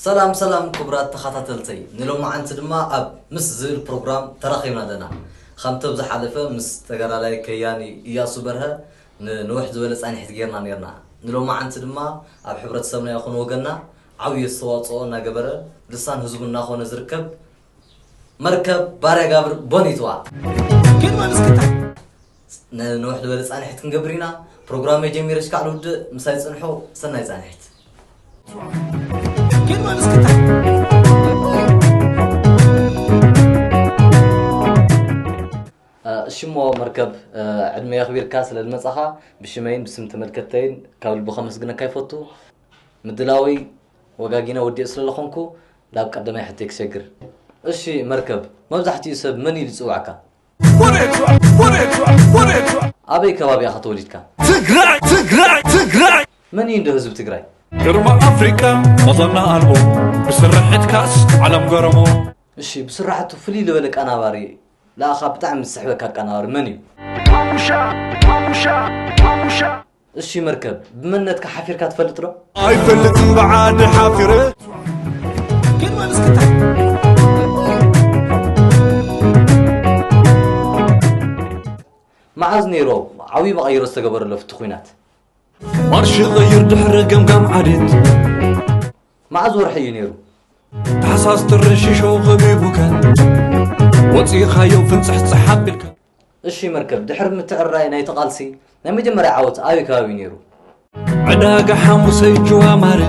ሰላም ሰላም ክቡራት ተኻታተልተይ ንሎማዓንቲ ድማ ኣብ ምስ ዝብል ፕሮግራም ተራኺብና ኣለና ኻምቲ ኣብ ዝሓለፈ ምስ ተጋዳላይ ከያኒ እያሱ በርሀ ንንውሕ ዝበለ ፃኒሒት ገይርና ነይርና ንሎማዓንቲ ድማ ኣብ ሕብረተሰብና ይኹን ወገንና ዓብይ ኣስተዋፅኦ እናገበረ ልሳን ህዝቡ እናኾነ ዝርከብ መርከብ ባርያጋብር ቦኒትዋ። ክንወን እስኪ ታይ ንንውሕ ዝበለ ፃንሒት ክንገብር ኢና ፕሮግራመይ ጀሚረ እስካዕ ልውድእ ምሳይ ፅንሑ ሰናይ ፃንሒት። ክንወን እስኪ ታይ እሺሞ መርከብ ዕድመ የኽቢርካ ስለ ዝመፃኻ ብሽመይን ብስም ተመልከተይን ካብ ልቢ ከመስግነካ ይፈቱ ምድላወይ ወጋጊነ ወዲኤ ስለ ዝኾንኩ ናብ ቀዳማይ ሕቶይ ክሸግር። እሺ መርከብ መብዛሕቲኡ ሰብ መን ኢሉ ይጽውዓካ? ኣበይ ከባቢ ኢኻ ተወሊድካ? መን እዩ እንዶ ህዝቢ ትግራይ? ግርማ ኣፍሪቃ መዘና ኣልቦ ብስርሕትካስ ዓለም ገረሞ። እሺ ብስራሕቱ ፍልይ ልበለ ኣቃናባሪ ልኣኻ ብጣዕሚ ዝስሕበካ ኣቃናባሪ መን እዩ? እሱይ መርከብ ብመንነትካ ሓፊርካ ትፈልጥ ዶ? ኣይፈልጥን ብዓዲ ሓፊረ ግን በል እስኪ ታይ መዓዝ ነይሩ ዓብዪ መቐይሮ ዝተገበረሉ ኣብቲ ኲናት? ማርሽ ቐይር ድሕሪ ገምጋም ዓሌት መዓዝ ወርሒ እዩ ነይሩ? ታሕሳስ ጥሪ ሽሾ ኸቢቡካ ወፂእኻዮ ፍንፅሕፅሕ ኣቢልካ እሺ መርከብ ድሕሪ ምትዕርራይ ናይቲ ቃልሲ ናይ መጀመርያ ዓወት ኣበይ ከባቢ ነይሩ? ዕዳጋ ሓሙሰ ጅዋ ማረ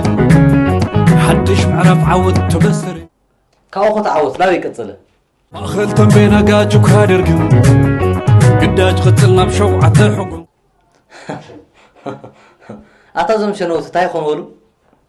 ሓድሽ ምዕራፍ ዓወት ተበሰረ። ካብኡ ኸ እቲ ዓወት ናበይ ቀጸለ? ማእኸል ተምቤን ኣጋጅ እኳ ደርግ ግዳጅ ቕጽል ናብ ሸውዓተ ሕጉ። ኣታ እዞም ሸነውቲ ታይ ኾኑ በሉ?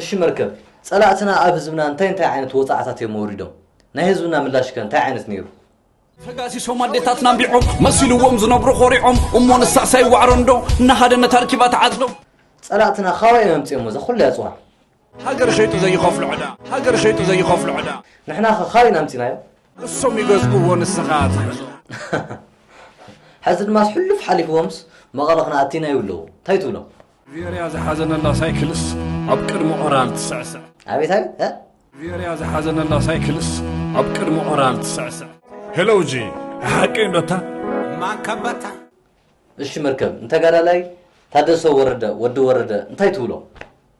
እሺ መርከብ ፀላእትና ኣብ ህዝብና እንታይ እንታይ ዓይነት ወፅዓታት እዮም ኣውሪዶም? ናይ ህዝብና ምላሽ ከ እንታይ ዓይነት ነይሩ? ተጋሲሶም ኣዴታትና ኣንቢዖም መሲልዎም ዝነብሩ ኮሪዖም እሞ ንሳዕሳይ ዋዕሮ እንዶ እናሃደነት ኣርኪባ ትዓጽዶ። ፀላእትና ካበይ እዮም ኣምፂኦሞ እዛ ኩላ ኣፅዋር? ሃገር ሸይጡ ዘይኸፍሎ ዕዳ ሃገር ሸይጡ ዘይኸፍሎ ዕዳ። ንሕና ከ ካበይ ኢና ኣምፂናዮ? እሶም ይገዝእዎ ንስኻ ትገዝኦ። ሐዚ ድማስ ሕሉፍ ሓሊፍዎምስ መቐለ ክንኣቲ ኢና ይብሉ ኣለዉ እንታይ ትብሎም? ቬርያ ዝሓዘነላ ሳይክልስ ኣብ ቅድሚ ኦራል ትስዕስዕ። ኣቤት ኣቤት እ? ቬርያ ዝሓዘነላ ሳይክልስ ኣብ ቅድሚ ኦራል ትስዕስዕ። ሄሎ ጂ ሓቂ እንዶታ ማንከበታ እሺ መርከብ ንተጋዳላይ ታደሰ ወረደ ወዲ ወረደ እንታይ ትብሎ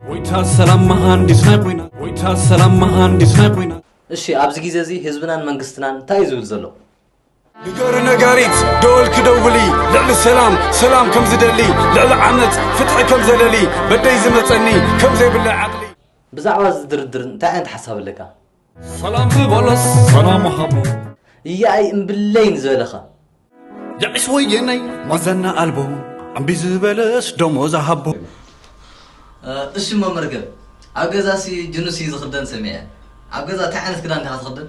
ወይታ ሰላም መሃንዲስ ናይ ኩናት ወይታ ሰላም መሃንዲስ ናይ ኩናት እሺ ኣብዚ ግዜ እዚ ህዝብናን መንግስትናን እንታይ እዩ ዝብል ዘሎ ንገሪ ነጋሪት ደወል ክደውሊ ልዕሊ ሰላም ሰላም ከም ዝደሊ ልዕሊ ዓመፅ ፍትሒ ከም ዘለሊ በደይ ዝመፀኒ ከም ዘይብለ ዓቕሊ ብዛዕባ እዚ ድርድር እንታይ ዓይነት ሓሳብ ኣለካ ሰላም ዝበለስ ሰላም ሃቦ እያኣይ እምብለይ ንዝበለኻ የዒስ ወየነይ ማዘና ኣልቦ እምቢ ዝበለስ ደሞዝ ሃቦ እሺ እሞ መርገብ ኣብ ገዛሲ ጅኑሲ ዝኽደን ሰሚዐ ኣብ ገዛ እንታይ ዓይነት ክዳን ዲኻ ትኽደን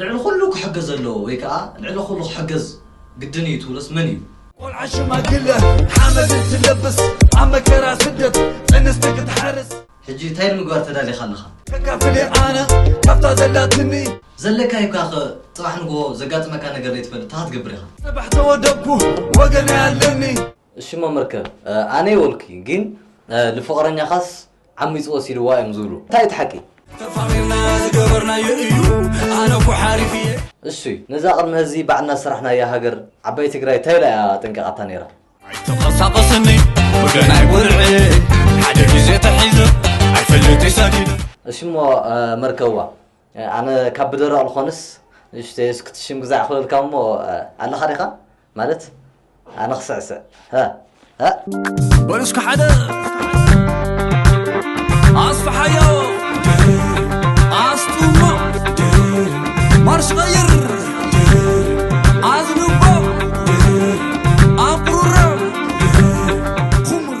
ልዕሊ ኩሉ ክሕገዝ ዘለዎ ወይ ከኣ ልዕሊ ኩሉ ክሕገዝ ግድን እዩ ትብሎስ መን እዩ? ቆልዓ ሽማግለ ሓመድ እንትለብስ ኣብ መከራ ስደት ጥንስቲ ክትሓርስ። ሕጂ እንታይ ንምግባር ተዳሊኻ ኣለኻ? ከካፍል እየ ኣነ ካብታ ዘላትኒ። ዘለካዮ እካ ከ ጽባሕ ንግሆ ዘጋጥመካ ነገር ዘይትፈልጥ ታይ ክትገብር ኢኻ? ጽባሕ ተወደብኩ ወገነይ ኣለኒ። እሺ መምህር ከ ኣነ የወልኩ ጊን ልፍቅረኛካስ ዓሚጹ ወሲድዋ እዮም ዝብሉ እንታይ እዩ እቲ ሓቂ? ተፋቒርና ዝገበርናዮ እዩ ኣነ እኮ ሓሪፍ እየ። እሹይ ነዛ ቅድሚ ሀዚ ባዕልና ዝሰራሕናያ ሀገር ዓባይ ትግራይ ታይ ኢላ እያ ኣጠንቂቃታ ነይራ? ኣይትንቐሳቐስኒ ብገናይ ወርዒ ሓደ ግዜ ተሒዘ ኣይፈልጥይ ሰጊደ። እሺ እሞ መርከብዋ ኣነ ካብ ብደረቕ ልኾንስ ንእሽተይ እስክትሽምግዛዕ ክበልካ እሞ ኣለኻ ዲኻ? ማለት ኣነ ክስዕስዕ ሀ ሀ በሉ እስከ ሓደ ኣስፍሓዮ ኣስጥሞ ማርሽ ቀይር ኣዝንቦ ኣቁርረ ኩምር